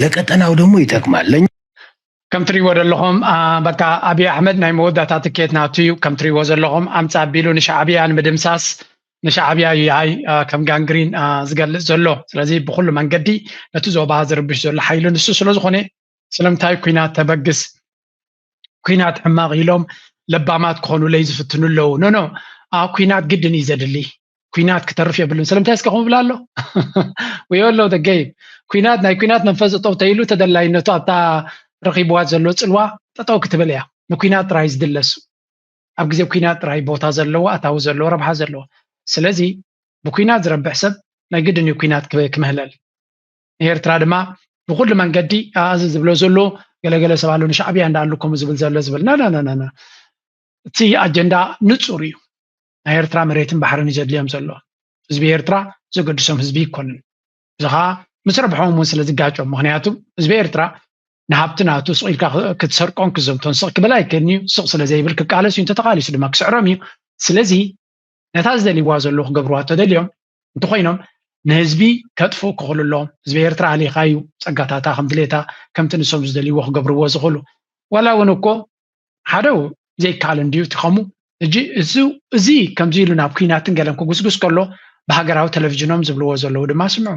ለቀጠናው ደግሞ ይጠቅማል ለኛ ከም ትሪዎ ዘለኹም በቃ ኣብይ ኣሕመድ ናይ መወዳእታ ትኬት ናቱ እዩ ከም ትሪዎ ዘለኹም ኣምፃ ኣቢሉ ንሻዕብያ ንምድምሳስ ንሻዕብያ እዩ ሃይ ከም ጋንግሪን ዝገልፅ ዘሎ ስለዚ ብኩሉ መንገዲ ነቲ ዞባ ዝርብሽ ዘሎ ሓይሊ ንሱ ስለዝኾነ ስለምንታይ ኩናት ተበግስ ኩናት ሕማቕ ኢሎም ለባማት ክኾኑለይ ዝፍትኑ ኣለዉ ኖኖ ኩናት ግድን እዩ ዘድሊ ኩናት ክተርፍ የብሉን ስለምንታይ እስከ ከምብላ ኣሎ ወዮ ኣሎ ደገይ ኩናት ናይ ኩናት መንፈስ እጠው ተይሉ ተደላይነቱ ኣብታ ረኺብዋ ዘሎ ፅልዋ ጠጠው ክትብል እያ ንኩናት ጥራይ ዝድለሱ ኣብ ግዜ ኩናት ጥራይ ቦታ ዘለዎ ኣታዊ ዘለዎ ረብሓ ዘለዎ ስለዚ ብኩናት ዝረብሕ ሰብ ናይ ግድን እዩ ኩናት ክምህለል ንኤርትራ ድማ ብኩሉ መንገዲ ኣዚ ዝብሎ ዘሎ ገለገለ ሰብ ኣሎ ንሻዕብያ እንዳ ኣሉ ከምኡ ዝብል ዘሎ ዝብል ናናናና እቲ ኣጀንዳ ንፁር እዩ ናይ ኤርትራ መሬትን ባሕርን እዩ ዘድልዮም ዘሎ ህዝቢ ኤርትራ ዘገድሶም ህዝቢ ይኮንን እዚ ከዓ ምስ ረብሖም እውን ስለ ዝጋጮም ምክንያቱ ህዝቢ ኤርትራ ንሃብቲ ናቱ ስቕ ኢልካ ክትሰርቆን ክዘምቶን ስቕ ክብል ኣይክእልን እዩ ስቕ ስለ ዘይብል ክቃለስ እዩ እንተተቃሊሱ ድማ ክስዕሮም እዩ ስለዚ ነታ ዝደልይዋ ዘለዉ ክገብርዋ ተደልዮም እንተኾይኖም ንህዝቢ ከጥፉ ክኽእሉ ህዝቢ ኤርትራ ኣሊኻ እዩ ጸጋታታ ከም ድሌታ ከምቲ ንሶም ዝደልይዎ ክገብርዎ ዝኽእሉ ዋላ እውን እኮ ሓደ ዘይከኣል እንድዩ እቲ ከምኡ እጂ እዚ ከምዚ ኢሉ ናብ ኩናትን ገለን ክጉስጉስ ከሎ ብሃገራዊ ቴሌቭዥኖም ዝብልዎ ዘለዉ ድማ ስምዑ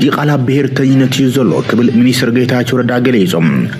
ዲቓላ ብሄርተኝነት እዩ ዘሎ ክብል ሚኒስትር ጌታቸው ረዳ ገሊጹ።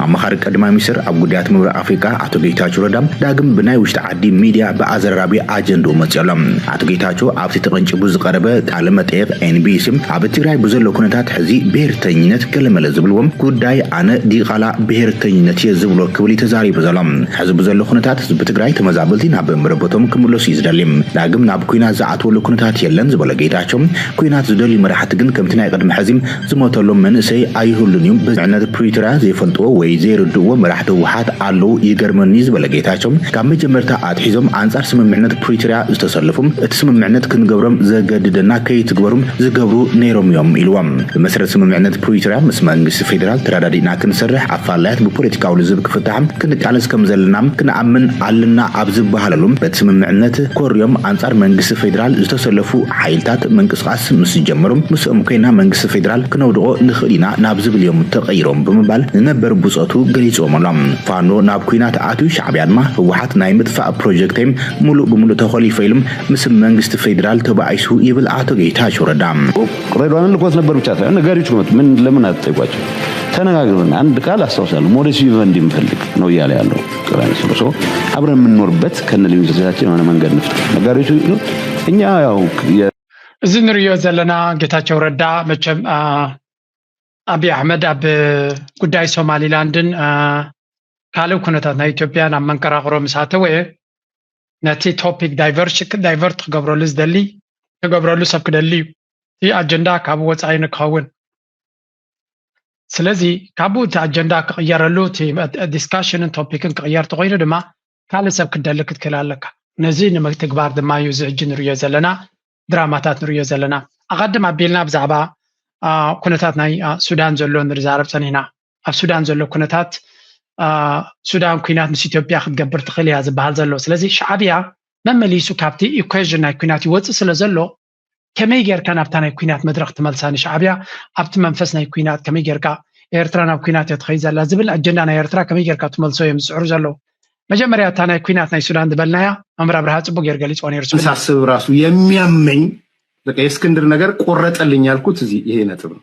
ኣማኻሪ ቀዳማይ ሚኒስትር ኣብ ጉዳያት ምብራቕ ኣፍሪቃ ኣቶ ጌታቸው ረዳ ዳግም ብናይ ውሽጢ ዓዲ ሚድያ ብኣዘራራቢ ኣጀንድኡ መጺኡ ኣሎ። ኣቶ ጌታቸው ኣብቲ ተቐንጪቡ ዝቐረበ ቃለ መጠይቕ ኤንቢሲ ኣብ ትግራይ ብዘሎ ኩነታት ሕዚ ብሄርተኝነት ገለመለ ዝብልዎ ጉዳይ ኣነ ዲቓላ ብሄርተኝነት እየ ዝብሎ ክብል እዩ ተዛሪቡ ዘሎ። ሕዚ ብዘሎ ኩነታት ህዝቢ ትግራይ ተመዛበልቲ ናብ መረበቶም ክምለሱ እዩ ዝደሊ። ዳግም ናብ ኲናት ዝኣትወሉ ኩነታት የለን ዝበለ ጌታቸው ኩናት ዝደልዩ መራሕቲ ግን ከምቲ ናይ ቅድሚ ሐዚ ዝሞተሎም መንእሰይ ኣይህሉን እዩ ብስምምዕነት ፕሪቶርያ ዘይፈልጥዎ ወይ ዘይርድእዎ መራሕቲ ህወሓት ኣለው ይገርመኒ እዩ ዝበለ ጌታቸው ካብ መጀመርታ ኣትሒዞም ኣንፃር ስምምዕነት ፕሪቶርያ ዝተሰለፉ እቲ ስምምዕነት ክንገብሮም ዘገድደና ከይትግበሩ ዝገብሩ ነይሮም እዮም ኢልዎም ብመሰረት ስምምዕነት ፕሪቶርያ ምስ መንግስቲ ፌዴራል ተረዳዲእና ክንሰርሕ ኣፋላያት ብፖለቲካዊ ልዝብ ክፍታሓ ክንቃለስ ከምዘለና ክንኣምን ኣለና ኣብ ዝበሃለሉ በቲ ስምምዕነት ኮርዮም ኣንፃር መንግስቲ ፌዴራል ዝተሰለፉ ሓይልታት ምንቅስቓስ ምስ ዝጀመሩ ምስኦም ኮይና መንግስቲ ፌደራል ክነውድቖ ንኽእል ኢና ናብ ዝብል እዮም ተቐይሮም ብምባል ንነበር ብፆቱ ገሊፅዎም ኣሎ። ፋኖ ናብ ኲናት ኣትዩ ሻዕቢያ ድማ ህወሓት ናይ ምጥፋእ ፕሮጀክተይ ሙሉእ ብሙሉእ ተኾሊፈ ኢሉ ምስ መንግስቲ ፌደራል ተባኢሱ ይብል ኣቶ ጌታቸው ረዳ። ሬድዋንን ልኮት ነበር ብቻ ሳይሆን ነጋሪዎች ክመጡ ምን ለምን አትጠይቋቸው ተነጋግረን አንድ ቃል አስታውሳለሁ ሞዴስ ቪቨንዲ ምፈልግ ነው እያለ ያለው ጥራይ ስሉ ሰው አብረን የምንኖርበት ከነ ልዩነቶቻችን የሆነ መንገድ ነው። ነጋዴዎቹ እኛ ያው እዚ ንሪኦ ዘለና ጌታቸው ረዳ መቸም አብይ አሕመድ ኣብ ጉዳይ ሶማሊላንድን ካልእ ኩነታት ናይ ኢትዮጵያን ኣብ መንቀራቅሮ ምስ ኣተወ ነቲ ቶፒክ ዳይቨርት ክገብረሉ ዝደሊ ክገብረሉ ሰብ ክደሊ እዩ እቲ ኣጀንዳ ካብ ወፃኢ ንክኸውን ስለዚ ካብኡ እቲ ኣጀንዳ ክቕየረሉ እቲ ዲስካሽንን ቶፒክን ክቕየር ተኮይኑ ድማ ካልእ ሰብ ክትደሊ ክትክእል ኣለካ ነዚ ንምትግባር ድማ እዩ እዚ ሕጂ ንርዮ ዘለና ድራማታት ንርዮ ዘለና ኣቐድም ኣቢልና ብዛዕባ ኩነታት ናይ ሱዳን ዘሎ ንርዛረብ ፀኒሕና ኣብ ሱዳን ዘሎ ኩነታት ሱዳን ኩናት ምስ ኢትዮጵያ ክትገብር ትኽእል እያ ዝበሃል ዘሎ ስለዚ ሻዕብያ መመሊሱ ካብቲ ኢኩዌዥን ናይ ኩናት ይወፅእ ስለ ዘሎ ከመይ ጌርካ ናብታ ናይ ኩናት መድረኽ ትመልሳ ንሻዓብያ ኣብቲ መንፈስ ናይ ኩናት ከመይ ጌርካ ኤርትራ ናብ ኩናት እያ ትኸይድ ዘላ ዝብል ኣጀንዳ ናይ ኤርትራ ከመይ ጌርካ ትመልሶ እዮም ዝጽዕሩ ዘለዉ መጀመርያ እታ ናይ ኩናት ናይ ሱዳን ዝበልናያ መምህር ኣብርሃ ጽቡቅ ጌር ገሊጽዎ ነይሩ ስብል ሳስብ ራሱ የሚያመኝ በቃ የእስክንድር ነገር ቆረጠልኝ ያልኩት እዚህ ይሄ ነጥብ ነው።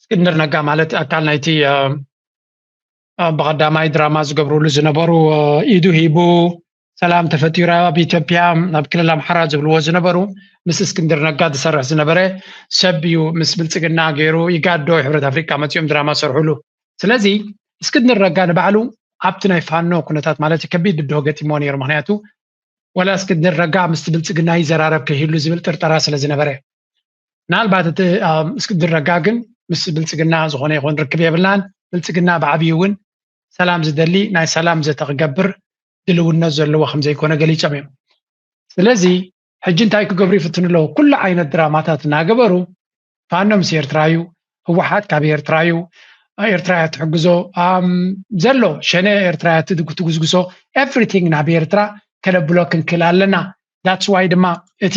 እስክንድር ነጋ ማለት ኣካል ናይቲ ብቀዳማይ ድራማ ዝገብርሉ ዝነበሩ ኢዱ ሂቡ ሰላም ተፈጢሩ ኣብ ኢትዮጵያ ኣብ ክልል ኣምሓራ ዝብልዎ ዝነበሩ ምስ እስክንድር ነጋ ዝሰርሕ ዝነበረ ሰብ እዩ ምስ ብልፅግና ገይሩ ይጋዶ ሕብረት ኣፍሪካ መፂኦም ድራማ ሰርሕሉ ስለዚ እስክንድር ነጋ ንባዕሉ ኣብቲ ናይ ፋኖ ኩነታት ማለት እዩ ከቢድ ብድሆ ገጢሞ ነይሩ ምክንያቱ ወላ እስክንድር ነጋ ምስቲ ብልፅግና ይዘራረብ ከይህሉ ዝብል ጥርጠራ ስለ ዝነበረ ምናልባት እቲ እስክንድር ነጋ ግን ምስ ብልፅግና ዝኾነ ይኹን ርክብ የብልናን ብልፅግና ብዓብዩ እውን ሰላም ዝደሊ ናይ ሰላም ዘተ ክገብር ድልውነት ዘለዎ ከም ዘይኮነ ገሊፆም እዮም ስለዚ ሕጂ እንታይ ክገብሩ ይፍትኑ ኣለዉ ኩሉ ዓይነት ድራማታት እናገበሩ ፋኖ ምስ ኤርትራ እዩ ህወሓት ካብ ኤርትራ እዩ ኤርትራ እያ ትሕግዞ ዘሎ ሸነ ኤርትራ እያ ትጉስጉሶ ኤቭሪቲንግ ናብ ኤርትራ ከነብሎ ክንክእል ኣለና ዳትስ ዋይ ድማ እቲ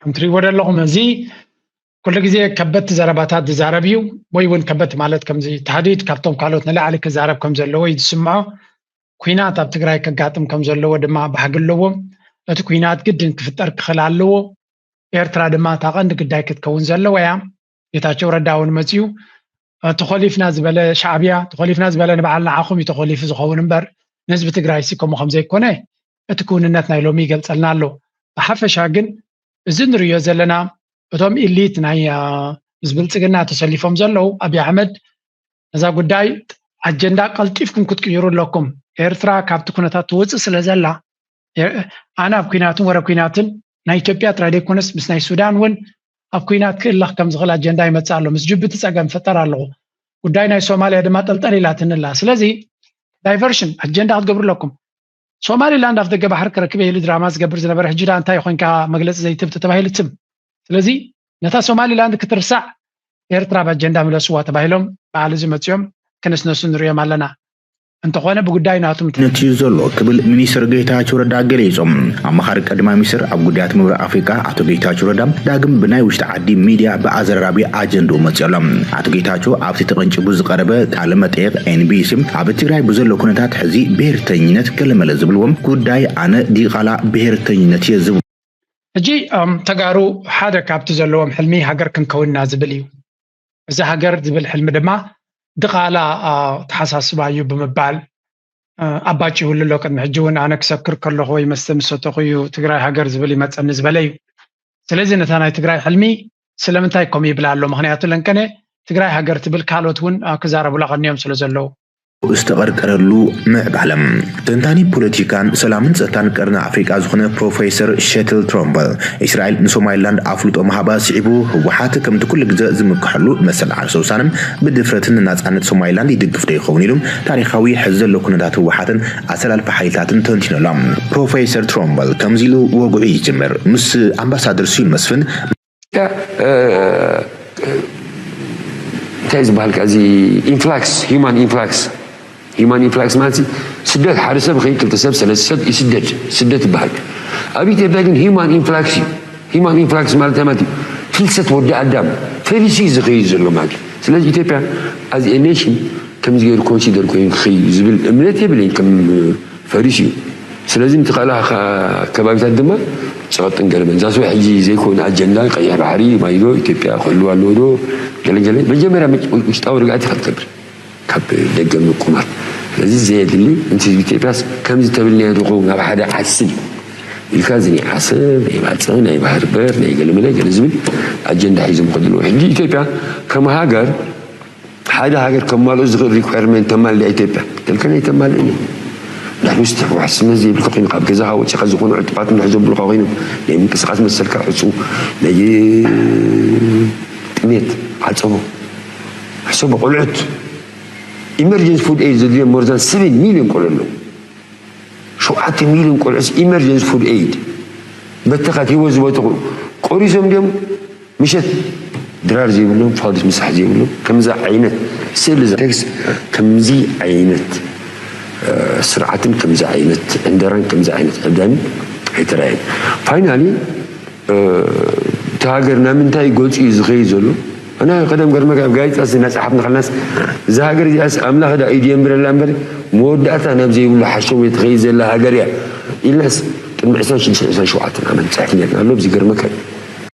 ከም ትሪእዎ ዘለኹም እዚ ኩሉ ግዜ ከበድቲ ዘረባታት ዝዛረብ እዩ ወይ እውን ከበድቲ ማለት ከምዚ ታህዲድ ካብቶም ካልኦት ንላዕሊ ክዛረብ ከም ዘለዎ እዩ ዝስምዖ ኩናት ኣብ ትግራይ ከጋጥም ከም ዘለዎ ድማ ባህጊ ኣለዎ እቲ ኩናት ግድን ክፍጠር ክኽእል ኣለዎ ኤርትራ ድማ እታ ቀንዲ ግዳይ ክትከውን ዘለዋ እያ ጌታቸው ረዳ እውን መፅኡ ተኾሊፍና ዝበለ ሻዕብያ ተኾሊፍና ዝበለ ንበዓል ንዓኹም እዩ ተኾሊፉ ዝኸውን እምበር ንህዝቢ ትግራይ ሲ ከምኡ ከም ዘይኮነ እቲ ክውንነት ናይ ሎሚ ይገልፀልና ኣሎ ብሓፈሻ ግን እዚ ንሪዮ ዘለና እቶም ኢሊት ናይ ምስ ብልፅግና ተሰሊፎም ዘለዉ ኣብዪ ኣሕመድ ነዛ ጉዳይ ኣጀንዳ ቀልጢፍኩም ክትቅይሩ ኣለኩም ኤርትራ ካብቲ ኩነታት ትውፅእ ስለ ዘላ ኣነ ኣብ ኩናትን ወረ ኩናትን ናይ ኢትዮጵያ ጥራይ ዘይኮነስ ምስ ናይ ሱዳን እውን ኣብ ኩናት ክእለኽ ከም ዝኽእል ኣጀንዳ ይመፅእ ኣሎ ምስ ጅቡቲ ፀገም ይፈጠር ኣለኹ ጉዳይ ናይ ሶማልያ ድማ ጠልጠል ኢላትኒ ኣላ ስለዚ ዳይቨርሽን ኣጀንዳ ክትገብሩ ኣለኩም ሶማሊላንድ ኣፍ ደገ ባሕሪ ክረክበ ኢሉ ድራማ ዝገብር ዝነበረ ሕጂ ዳ እንታይ ኮንካ መግለፂ ዘይትብ ተተባሂሉ ትም ስለዚ ነታ ሶማሊላንድ ክትርሳዕ ኤርትራ ኣብ ኣጀንዳ ምለስዋ ተባሂሎም በዓል እዚ መፅኦም ክነስነሱ ንሪኦም ኣለና እንተኾነ ብጉዳይ ናቱ ነትዩ ዘሎ ክብል ሚኒስትር ጌታቸው ረዳ ገሊፆም። ኣማኻሪ ቀዳማይ ሚኒስትር ኣብ ጉዳያት ምብራቕ ኣፍሪቃ ኣቶ ጌታቸው ረዳ ዳግም ብናይ ውሽጢ ዓዲ ሚዲያ ብኣዘራራቢ ኣጀንድኡ መፂኡ ኣሎ። ኣቶ ጌታቸው ኣብቲ ተቐንጪቡ ዝቐረበ ቃለ መጠይቕ ኤንቢሲ ኣብ ትግራይ ብዘሎ ኩነታት ሕዚ ብሄርተኝነት ገለመለ ዝብልዎ ጉዳይ ኣነ ዲቓላ ብሄርተኝነት እየ ዝብሎ ሕጂ ተጋሩ ሓደ ካብቲ ዘለዎም ሕልሚ ሃገር ክንከውን ኢና ዝብል እዩ። እዚ ሃገር ዝብል ሕልሚ ድማ ድቓላ ኣተሓሳስባ እዩ ብምባል ኣባጭውሉ ኣሎ ቅድሚ ሕጂ እውን ኣነ ክሰክር ከለኹ ወይ መስተ ምስ ሰተኹ እዩ ትግራይ ሃገር ዝብል ይመፀኒ ዝበለ እዩ ስለዚ ነታ ናይ ትግራይ ሕልሚ ስለምንታይ ከምኡ ይብላ ኣሎ ምክንያቱ ለንቀነ ትግራይ ሃገር ትብል ካልኦት እውን ክዛረቡላ ቀኒዮም ስለ ዘለዉ ዝተቐርቀረሉ ምዕባለ። ተንታኒ ፖለቲካን ሰላምን ጸጥታን ቀርኒ ኣፍሪቃ ዝኾነ ፕሮፈይሰር ሸትል ትሮምበል፣ እስራኤል ንሶማይላንድ ኣፍልጦ ምሃባ ስዒቡ፣ ህወሓት ከምቲ ኩሉ ግዘ ዝምክሐሉ መሰል ዓርሰ ውሳነን ብድፍረትን ንናጻነት ሶማይላንድ ይድግፍዶ ይኸውን ኢሉ ታሪኻዊ ሕዚ ዘሎ ኩነታት ህወሓትን ኣሰላልፋ ሓይልታትን ተንቲኑ ኣሎ። ፕሮፈይሰር ትሮምበል ከምዚ ኢሉ ወግዑ ይጅምር፣ ምስ ኣምባሳደር ስዩም መስፍን፣ እንታይ ዝበሃል ከዚ ኢንፍላክስ ሂማን ኢንፍላክስ ሂማን ኢንፍላክስ ማለት ስደት ሓደ ሰብ ኸይ ክልተ ሰብ ሰለስተ ሰብ ይስደድ ስደት ይበሃል ኣብ ኢትዮጵያ ግን ሂማን ኢንፍላክስ እዩ ሂማን ኢንፍላክስ ማለት ማለት እዩ ፍልሰት ወዲ ኣዳም ፈሊሲ ዝኸይድ ዘሎ ማለት እዩ ስለዚ ኢትዮጵያ ኣዝ ኔሽን ከምዚ ገይሩ ኮንሲደር ኮይኑ ክኸይድ ዝብል እምነት የብለይ ከም ፈሪሱ እዩ ስለዚ ንቲ ካልኣ ከባቢታት ድማ ጸቐጥን ገለመን ዛስ ዋይ ሕጂ ዘይኮነ ኣጀንዳ ቀይሕ ባሕሪ ማይዶ ኢትዮጵያ ክህልዋ ኣለዎ ዶ ገለ ገለ መጀመርያ ውሽጣዊ ርግኣት ኢኻ ትገብር ካብ ደገ ምቁማት ስለዚ ዘየድሊ ንቲ ህዝቢ ኢትዮጵያስ ከምዚ ተብልናዮ ዶ ኸውን ኣብ ሓደ ዓስብ ኢልካ እዚ ናይ ዓሰብ ናይ ባጽዕ ናይ ባህር በር ናይ ገለመለ ገለ ዝብል ኣጀንዳ ሒዞም ከድልዎ ሕጂ ኢትዮጵያ ከም ሃገር ሓደ ሃገር ከማልኡ ዝኽእል ሪኳየርመንት ተማልእ ኢትዮጵያ ተልከን ኣይተማልእን እዩ ንሕና ስቲ ሕወሓትስነት ዘይብልካ ኮይኑ ካብ ገዛኻ ወፂኻ ዝኾኑ ዕጡቓት እንድሕር ዘብሉኻ ኮይኖም ናይ ምንቅስቓስ መሰልካ ዕፁው ናይ ጥሜት ዓፀቦ ሕሰቦ ቆልዑት ኢመርጀንሲ ፉድ ኤድ ዘድልዮም ሞርዛን ሰቨን ሚሊዮን ቆልዑ ኣለዉ ሸውዓተ ሚሊዮን ቆልዑስ ኢመርጀንሲ ፉድ ኤድ በተኻት ሂወት ዝበተኹ ቆሪሶም ድዮም ምሸት ድራር ዘይብሎም ፋዱስ ምሳሕ ዘይብሎም ከምዛ ዓይነት ስእሊ ቴክስ ከምዚ ዓይነት ስርዓትን ከምዚ ዓይነት ዕንደራን ከምዚ ዓይነት ዕብዳንን ኣይተራእየን ፋይናሊ እቲ ሃገር ናብ ምንታይ ገጹ እዩ ዝኸይድ ዘሎ ኣና ቀደም ገርመጋ ኣብ ጋዜጣ እናጸሓፍና ከለናስ እዛ ሃገር እዚኣስ ኣምላኽ ዳ ኢዱ የንብረላ እምበር መወዳእታ ናብ ዘይብሉ ሓሸው እየ ትኸይድ ዘላ ሃገር እያ ኢልናስ ቅድሚ ዕስራን ሽዱሽተን ዕስራን ሸውዓተን ዓመት ንጽሕፍ ነርና ኣሎ ዝገርመካ እዩ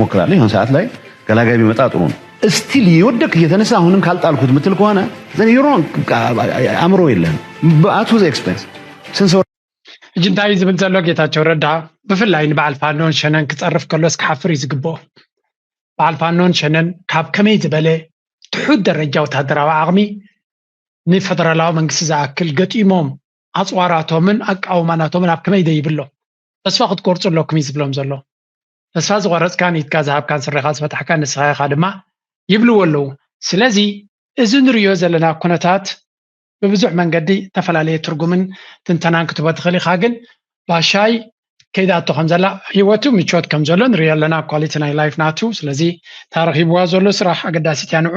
ሞክራለሁ የሆን ሰዓት ላይ ገላጋይ ቢመጣ ጥሩ ነው። እስቲል እየወደቅ እየተነሳ አሁንም ካልጣልኩት ምትል ከሆነ አእምሮ የለን በአቱ ዘ ኤክስፐንስ ስንሰው ሕጂ እንታይ እዩ ዝብል ዘሎ ጌታቸው ረዳ ብፍላይ ንበዓል ፋኖን ሸነን ክፀርፍ ከሎስ ክሓፍር እዩ ዝግብኦ በዓል ፋኖን ሸነን ካብ ከመይ ዝበለ ትሑት ደረጃ ወታደራዊ ዓቕሚ ንፈደራላዊ መንግስቲ ዝኣክል ገጢሞም ኣፅዋራቶምን ኣቃውማናቶምን ኣብ ከመይ ደይብሎ ተስፋ ክትቆርፁ ኣለኩም እዩ ዝብሎም ዘሎ ተስፋ ዝቆረጽካን ኢድካ ዝሃብካን ስረኻ ዝፈታሕካን ንስኻ ኢኻ ድማ ይብልዎ ኣለዉ ስለዚ እዚ ንርእዮ ዘለና ኩነታት ብብዙሕ መንገዲ እተፈላለየ ትርጉምን ትንተናን ክትቦ ትኽእል ኢኻ ግን ባሻይ ከይዳቶ ከም ዘላ ሂወቱ ምቾት ከም ዘሎ ንሪኦ ኣለና ኳሊቲ ናይ ላይፍ ናቱ ስለዚ ታረኺብዋ ዘሎ ስራሕ ኣገዳሲት እያ ንዑ